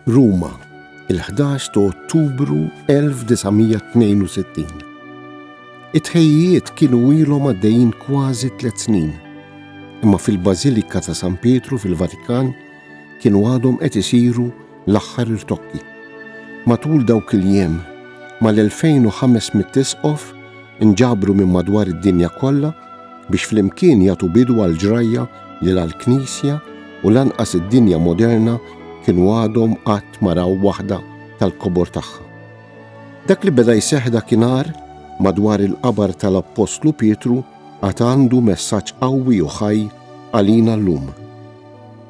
Ruma, il-11 ta' Ottubru 1962. It-ħejjiet kienu ilhom għaddejjin kważi tliet snin, imma fil-Bażilika ta' San Pietru fil-Vatikan kienu għadhom qed isiru L-aħħar irtokki. Matul dawk il-jiem, mal-2,500 isqof inġabru minn madwar id-dinja kollha biex flimkien jagħtu bidu għall-ġrajja li la l-Knisja u lanqas id-dinja moderna kienu għadhom qatt ma raw waħda tal-kobor tagħha. Dak li beda jseħħ dakinhar madwar il-qabar tal-Appostlu Pietru għad għandu messaġġ qawwi u ħaj għalina llum.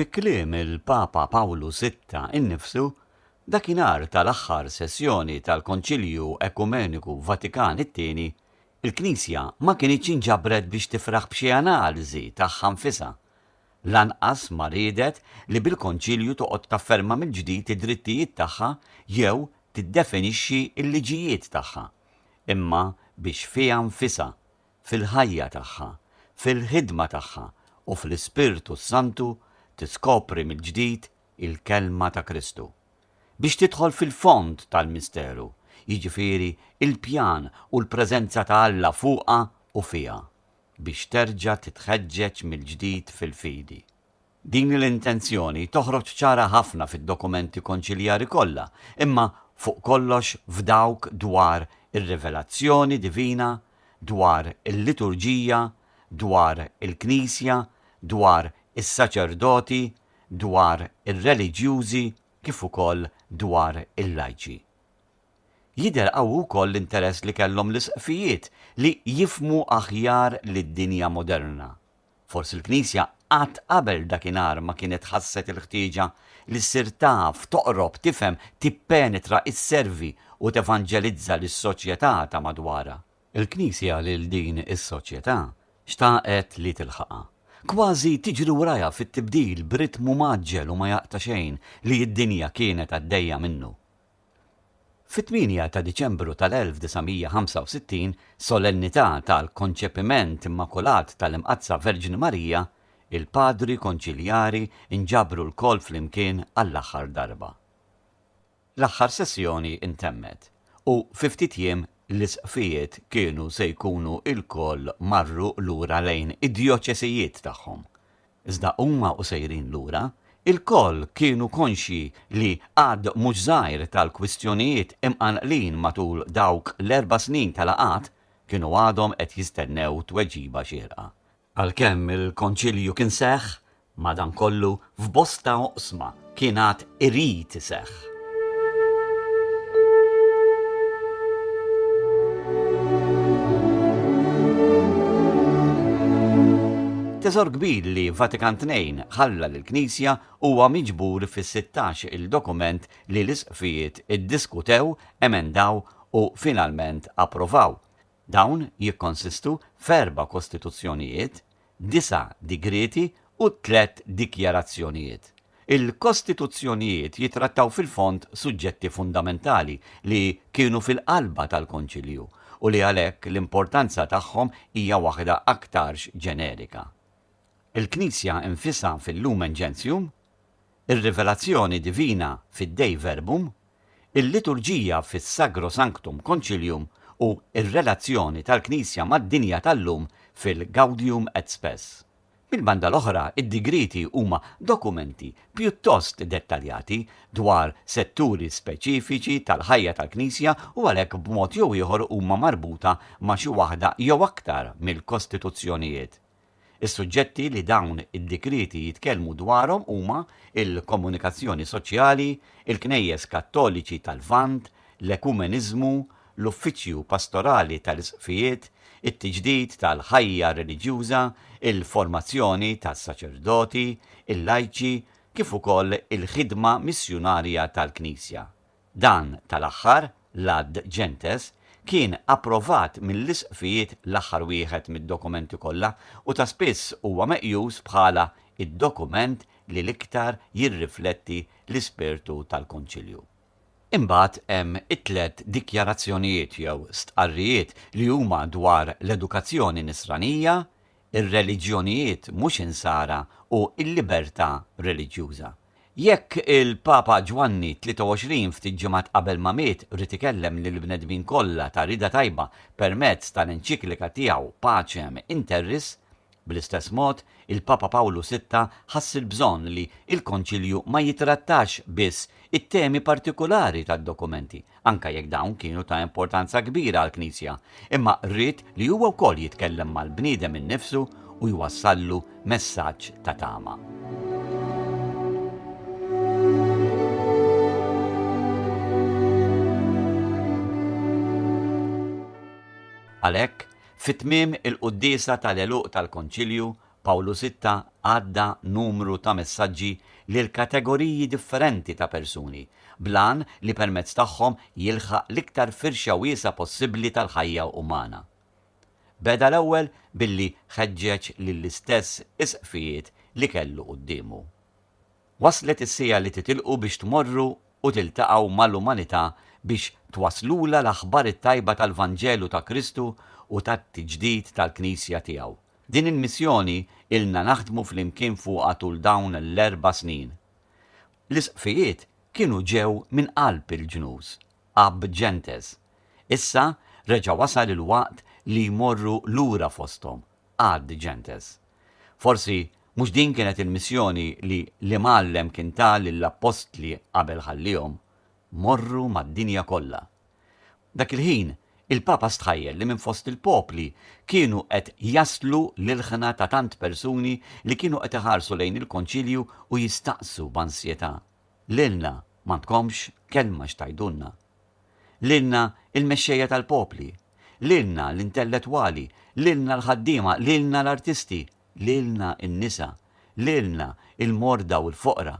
Fi kliem il-Papa Pawlu Sitta innifsu, dakinhar tal-aħħar sessjoni tal-Konċilju Ekumeniku Vatikan it-Tieni, il-Knisja ma kinitx inġabret biex tifraħ b'xi analiżi tagħha nfisha. Lanqas ma riedet li bil-Konċilju toqgħod tafferma mill-ġdid id-drittijiet tagħha jew tiddefinixxi l-liġijiet tagħha, imma biex fiha nfisha, fil-ħajja tagħha, fil-ħidma tagħha u fl-Ispirtu s-Santu tiskopri mill-ġdid il-Kelma ta' Kristu. Biex tidħol fil-fond tal-misteru, jiġifieri l-pjan u l-preżenza ta' Alla fuqha u fiha. Biex terġa' titħeġġeġ mill-ġdid fil-fidi. Din l-intenzjoni toħroġ ċara ħafna fid-dokumenti konċiljari kollha, imma fuq kollox f'dawk dwar ir-rivelazzjoni divina, dwar il-liturġija, dwar il-Knisja, dwar is-saċerdoti, dwar ir-reliġjużi kif ukoll dwar il-lajċi. Jidher qawwi wkoll l-interess li kellhom l-Isqfijiet li jifhmu aħjar lid-dinja moderna. Forsi l-Knisja qatt qabel dakinhar ma kienet ħasset il-ħtieġa li ssir taf, toqrob, tifhem, tippenetra, isservi u tevanġelizza lis-soċjetà ta' madwarha. Il-Knisja lil din is-soċjetà xtaqet li tilħaqha. Kważi tiġri warajha fit-tibdil b'ritmu mgħaġġel u ma jaqta' xejn li d-dinja kienet għaddejja minnu. Fit-8 ta' Diċembru tal-1965, solennità tal-Konċepiment Immakulat tal-Imqaddsa Verġni Marija, il-Padri Konċiljari nġabru lkoll flimkien għall-aħħar darba. L-aħħar sessjoni ntemmet, u fi ftit jiem l-Isqfijiet kienu se jkunu lkoll marru lura lejn id-djoċesijiet tagħhom. Iżda huma u sejrin lura, ilkoll kienu konxji li għadd mhux żgħir tal-kwistjonijiet imqanqlin matul dawk l-erba' snin ta' laqgħat kienu għadhom qed jistennew tweġiba xierqa. Għalkemm il-Konċilju kien seħħ, madankollu, f'bosta oqsma, kien għad irid iseħħ. Teżor kbir li Vatikan Tnejn ħalla lill-Knisja huwa miġbur fis-16 il-dokument li l-isqfijiet iddiskutew, emendaw u finalment approvaw. Dawn jikkonsistu f'erba' kostituzzjonijiet, disa' digrieti u tliet dikjarazzjonijiet. Il-kostituzzjonijiet jittrattaw fil-fond suġġetti fundamentali li kienu fil-qalba tal-Konċilju u li għalhekk l-importanza tagħhom hija waħda aktarx ġenerika. Il-Knisja nfisha fil-Lumen Gentium, ir-rivelazzjoni divina fid-Dei Verbum, il-liturġija fis-Sagro Sanctum Concilium u r-relazzjoni tal-Knisja mad-dinja tal-lum fil-Gaudium et Spes. Mill-banda l-oħra, id-digrieti huma dokumenti pjuttost dettaljati dwar setturi speċifiċi tal-ħajja tal-Knisja u għalhekk b'mod jew ieħor huma marbuta ma' xi waħda jew aktar mill-kostituzzjonijiet Is-suġġetti li dawn id-dikrieti jitkellmu dwarhom huma l-komunikazzjoni soċjali, il-Knejjes Kattoliċi tal-Lvant, l-ekumeniżmu, l-uffiċċju pastorali tal-isqfijiet, it-tiġdid tal-ħajja reliġjuża, il-formazzjoni tas-saċerdoti, il-lajċi, kif ukoll il-ħidma missjunarja tal-Knisja. Dan tal-aħħar, l-Att Gentes, kien approvat mill-Isqfijiet l-aħħar wieħed mid-dokumenti kollha u ta' spiss huwa meqjus bħala d-dokument li l-iktar jirrifletti l-ispirtu tal-Konċilju. Imbagħad hemm it-tliet dikjarazzjonijiet jew stqarrijiet li huma dwar l-edukazzjoni Nisranija, ir-reliġjonijiet mhux Insara u l-libertà reliġjuża. Jekk il-Papa Ġwanni 23 ftit ġimgħat qabel ma miet ried ikellem lill-bnedmin kollha ta' rieda tajba permezz tal-enċiklika tiegħu Pacem in terris, bl-istess mod, il-Papa Pawlu Sitta ħass il-bżonn li l-Konċilju ma jitrattax biss it-temi partikulari tad-dokumenti, anke jekk dawn kienu ta' importanza kbira għall-Knisja, imma ried li huwa wkoll jitkellem mal-bniedem innifsu u jwassallu messaġġ ta' tama. Għalhekk, fi tmiem il-quddiesa tal-għeluq tal-Konċilju, Pawlu Sitta għadda numru ta' messaġġi lil kategoriji differenti ta' persuni, bl-għan li permezz tagħhom jilħaq l-iktar firxa wiesgħa possibbli tal-ħajja umana. Beda l-ewwel billi ħeġġeġ lill-istess isqfijiet li kellu quddiemu. Waslet is-siegħa li titilqu biex tmorru u tiltaqgħu mal-umanità biex twasslulha l-aħbar it-tajba tal-Vanġelu ta' Kristu u tat-tiġdid tal-Knisja tiegħu, Din il-missjoni ilna naħdmu flimkien fuqha tul dawn l-erba' snin. L-isqfijiet kienu ġew minn qalb il-ġnus, ab gentes. Issa reġa' wasal il-waqt li jmorru lura fosthom, ad gentes. Forsi mhux din kienet il-missjoni li l-Imgħallem kien ta lill-appostli qabel ħalliehom, Morru mad-dinja kollha. Dak il-ħin, il-Papa stħajjel li minn fost il-popli kienu qed jaslu l-ilħna ta' tant persuni li kienu qed iħarsu lejn il-Konċilju u jistaqsu b'ansjetà, Lilna m'għandkomx kelma x'tgħidulna? Lilna l-mexxejja tal-popli? Lilna l-intellettwali? Lilna l-ħaddiema? Lilna l-artisti? Lilna n-nisa? Lilna l-morda u l-foqra?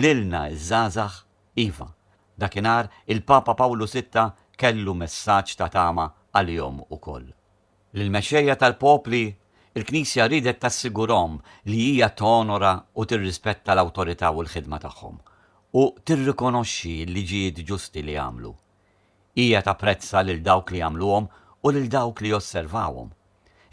Lilna ż-żgħażagħ? Iva, dakinhar il-Papa Pawlu Sitta kellu messaġġ ta' tama għalihom ukoll. Lill-mexxejja tal-popli, il-Knisja riedet tassigurahom li hija tonora u tirrispetta l-awtorità u l-ħidma tagħhom, u tirrikonoxxi l-liġijiet ġusti li għamlu. Hija tapprezza lil dawk li jagħmluhom u lil dawk li josservawhom.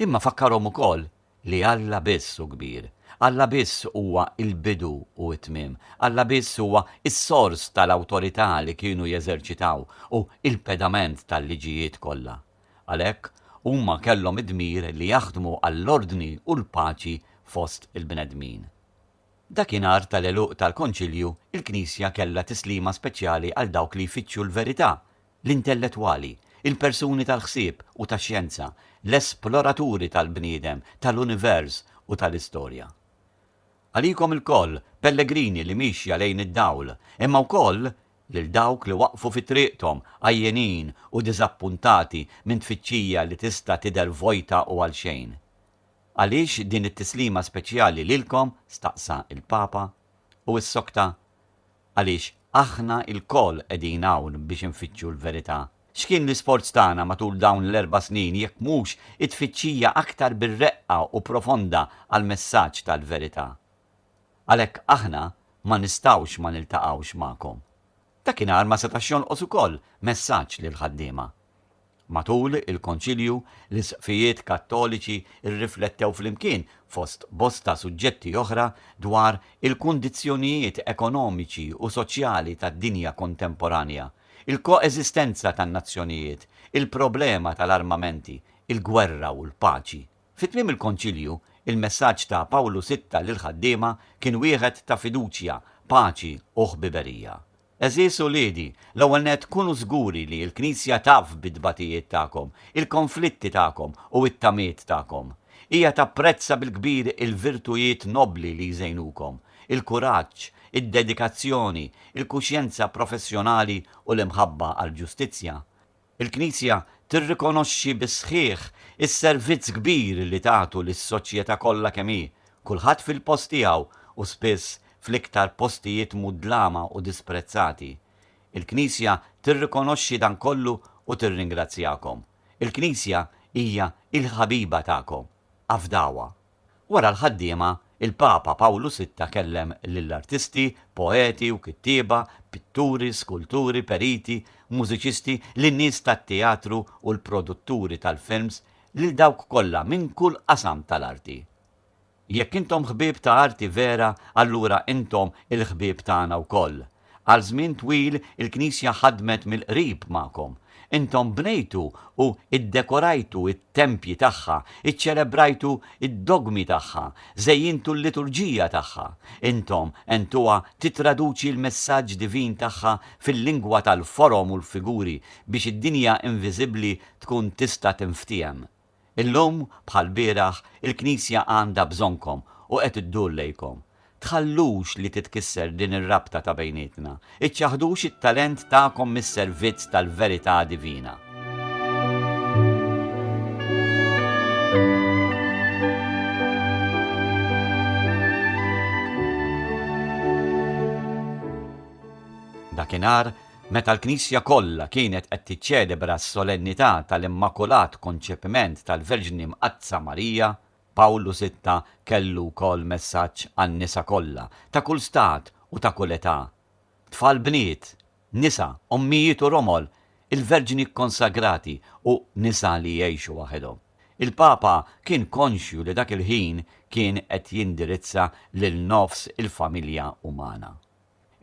Imma fakkarhom ukoll li Alla biss hu kbir. Alla biss huwa l-bidu u t-tmiem. Alla biss huwa s-sors tal-awtorità li kienu jeżerċitaw u l-pedament tal-liġijiet kollha. Għalhekk, huma kellhom id-dmir li jaħdmu għall-ordni u l-paċi fost il-bnedmin. Dakinhar tal-għeluq tal-Konċilju, il-Knisja kellha tislima speċjali għal dawk li jfittxu l-verità, l-intellettwali, il-persuni tal-ħsieb u tax-xjenza, l-esploraturi tal-bniedem, tal-univers u tal-istorja. Għalikom ilkoll, pellegrini li miexja lejn id-dawl, imma wkoll lil dawk li waqfu fi triqthom, għajjenin u diżappuntati minn tfittxija li tista' tidher vojta u għalxejn. Għaliex din it-tislima speċjali lilkom? staqsa l-Papa, u ssokta għaliex aħna lkoll qegħdin hawn biex infittxu l-verità. X'kien l-isforz tagħna matul dawn l-erba' snin jekk mhux it-tfittxija aktar bir-reqqa u profonda għall-messaġġ tal-verità? Għalhekk aħna ma nistgħux ma niltaqgħux magħkom. Dakinhar ma setax jonqos ukoll messaġġ lill-ħaddiema. Matul il-Konċilju, l-Isqfijiet Kattoliċi rriflettew flimkien, fost bosta suġġetti oħra, dwar il-kundizzjonijiet ekonomiċi u soċjali tad-dinja kontemporanja, il-koeżistenza tan-nazzjonijiet, il-problema tal-armamenti, il-gwerra u l-paċi. Fi tmiem il-Konċilju, il-messaġġ ta' Pawlu Sitta lill-ħaddiema kien wieħed ta' fiduċja, paċi u ħbiberija. Għeżież uliedi, l-ewwel nett kunu żguri li l-Knisja taf bit-tbatijiet tagħkom, il-konflitti tagħkom u t-tamiet tagħkom. Hija tapprezza bil-kbir il-virtujiet nobbli li jżejnukom, il-kuraġġ, id-dedikazzjoni, il-kuxjenza professjonali u l-imħabba għall-ġustizzja. Il-Knisja tirrikonoxxi bis-sħiħ is-servizz kbir li tagħtu lis-soċjetà kollha kemm hi, kulħadd fil-post tiegħu u spiss fl-iktar postijiet mudlama u disprezzati. Il-Knisja tirrikonoxxi dan kollu u tirringrazzjakom. Il-Knisja hija il-ħabiba tagħkom. Afdawha. Wara l-ħaddiema, il-Papa Pawlu Sitta kellem lill-artisti, poeti u kittieba, pitturi, skulturi, periti, mużiċisti, lin-nies tat-teatru u l-produtturi tal-films, lil dawk kollha minn kull qasam tal-arti. Jekk intom ħbieb ta' arti vera allura intom il-ħbieb tagħna wkoll, Għal żmien twil il-Knisja ħadmet mill-qrib magħkom. Intom bnejtu u ddekorajtu t-tempji tagħha, iċċelebrajtu d-dogmi tagħha, żejjintu l-liturġija tagħha. Intom għentuha tittraduċi l-messaġġ divin tagħha fil-lingwa tal-forom u l-figuri biex id-dinja inviżibbli tkun tista' tinftiehem. Illum, bħall-bieraħ, il-Knisja għandha bżonnkom u qed iddur lejkom. Tħallux li titkisser din ir-rabta ta' bejnietna. Iċċaħħdux it-talent tagħkom mis-servizz tal-verità divina. Dakinhar, Meta l-Knisja kollha kienet qed tiċċelebra s-Solennità tal-Immakulat Konċepiment tal-Verġni Mqaddsa Marija, Pawlu Sitta kellu wkoll messaġġ għan-nisa kollha, ta' kull stat u ta' kull età, Tfal bniet, nisa, ommijiet u romol, il-verġni kkonsagrati u nisa li jgħixu waħedhom. Il-Papa kien konxju li dak il-ħin kien qed jindirizza lil nofs il-familja umana.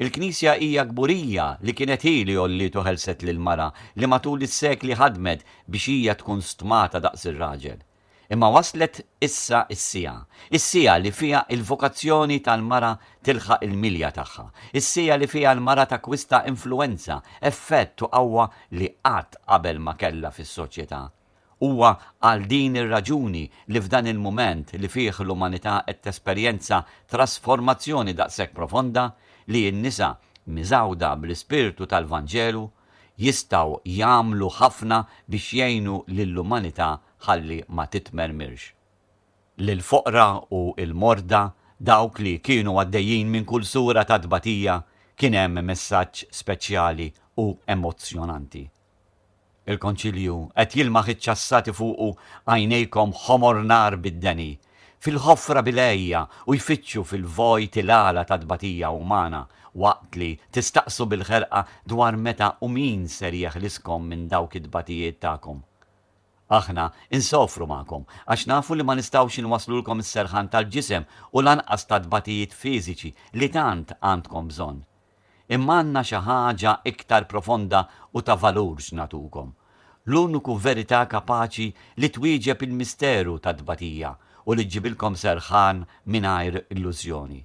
Il-Knisja hija kburija li kienet hi li għolliet u ħelset lill-mara li matul is-sekli ħadmet biex hija tkun stmata daqs ir-raġel. Imma waslet issa s-siegħa, is-siegħa li fiha l-vokazzjoni tal-mara tilħaq il-milja tagħha, is-siegħa li fiha l-mara takkwista influwenza, effett u qawwa li qatt qabel ma kellha fis-soċjetà. Huwa għal din ir-raġuni li f'dan il-mument li fih l-umanità qed tesperjenza trasformazzjoni daqshekk profonda li n-nisa, miżgħuda bl-ispirtu tal-Vanġelu, jistgħu jagħmlu ħafna biex jgħinu lill-umanità ħalli ma titmermirx. Lill-foqra u l-morda, dawk li kienu għaddejjin minn kull sura ta' tbatija, kien hemm messaġġ speċjali u emozzjonanti. Il-Konċilju qed jilmaħ iċ-ċassati fuqu għajnejkom ħomor nar bid-deni, fil-ħofra bil-għejja u jfittxu fil-vojt il-għala tat-tbatija umana, waqt li tistaqsu bil-ħerqa dwar meta u min ser jeħliskom minn dawk it-tbatijiet tagħkom. Aħna insofru magħkom għax nafu li ma nistgħux inwasslulkom is-serħan tal-ġisem u lanqas tat-tbatijiet fiżiċi li tant għandkom bżonn. Imma għandna xi ħaġa iktar profonda u ta' valur x'nagħtukom, l-uniku verità kapaċi li twieġeb il-misteru tat-tbatija u li ġġibilkom serħan mingħajr illużjoni.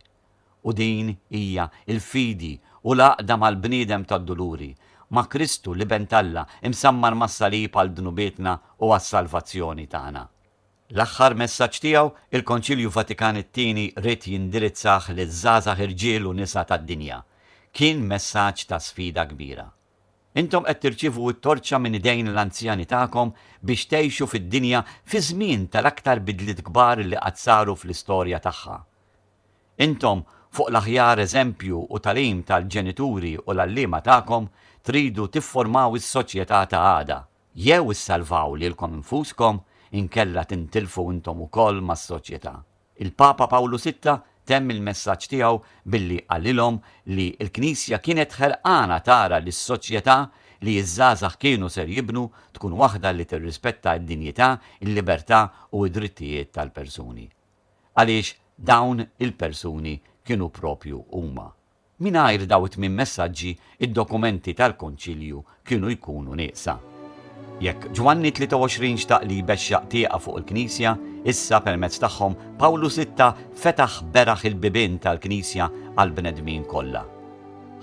U din hija l-fidi u l-għaqda mal-bniedem tad-duluri, ma' Kristu, l-Iben t'Alla, imsammar mas-salib għal dnubietna u għas-salvazzjoni tagħna. L-aħħar messaġġ tiegħu, il-Konċilju Vatikan it-Tieni ried jindirizzah liż-żgħażagħ irġiel u nisa tad-dinja. Kien messaġġ ta' sfida kbira. Intom qed tirċievu t-torċa minn idejn l-anzjani tagħkom biex tgħixu fid-dinja fi żmien tal-aktar bidliet kbar li qatt saru fl-istorja tagħha. Intom, fuq l-aħjar eżempju u tagħlim tal-ġenituri u l-għalliema tagħkom, tridu tifformaw is-soċjetà ta' għada. Jew issalvaw lilkom infuskom, inkella tintilfu intom ukoll mas-soċjetà. Il-Papa Pawlu Sitta temm il-messaġġ tiegħu billi qalilhom li l-Knisja kienet ħerqana tara li s-soċjetà li ż-żgħażagħ kienu ser jibnu tkun waħda li tirrispetta d-dinjità, il-libertà u d-drittijiet tal-persuni. Għaliex dawn il-persuni kienu proprju huma. Mingħajr dawn it-tmien messaġġi, id-dokumenti tal-Konċilju kienu jkunu nieqsa. Jekk Ġwanni 23 xtaq li jbexxaq tieqa fuq il-Knisja, issa permezz tagħhom Pawlu Sitta fetaħ beraħ il-bibien tal-Knisja għall-bnedmin kollha.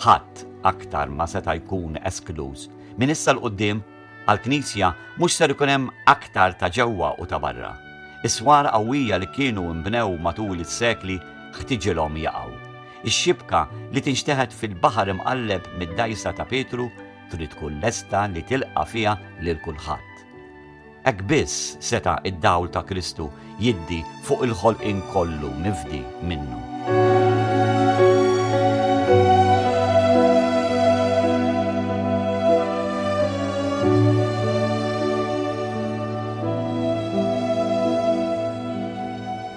Ħadd aktar ma seta' jkun eskluż. Minn issa 'l quddiem, għall-Knisja mhux ser ikun hemm aktar ta' ġewwa u ta' barra. Is-swar qawwija li kienu nbnew matul is-sekli ħtiġilhom jaqgħu. Ix-xibka li tinxteħet fil-baħar imqalleb mid-dgħajsa ta' Pietru trid tkun lesta li tilqa' fiha lil kulħadd. Hekk biss seta' d-dawl ta' Kristu jiddi fuq il-ħolqien kollu mifdi minnu.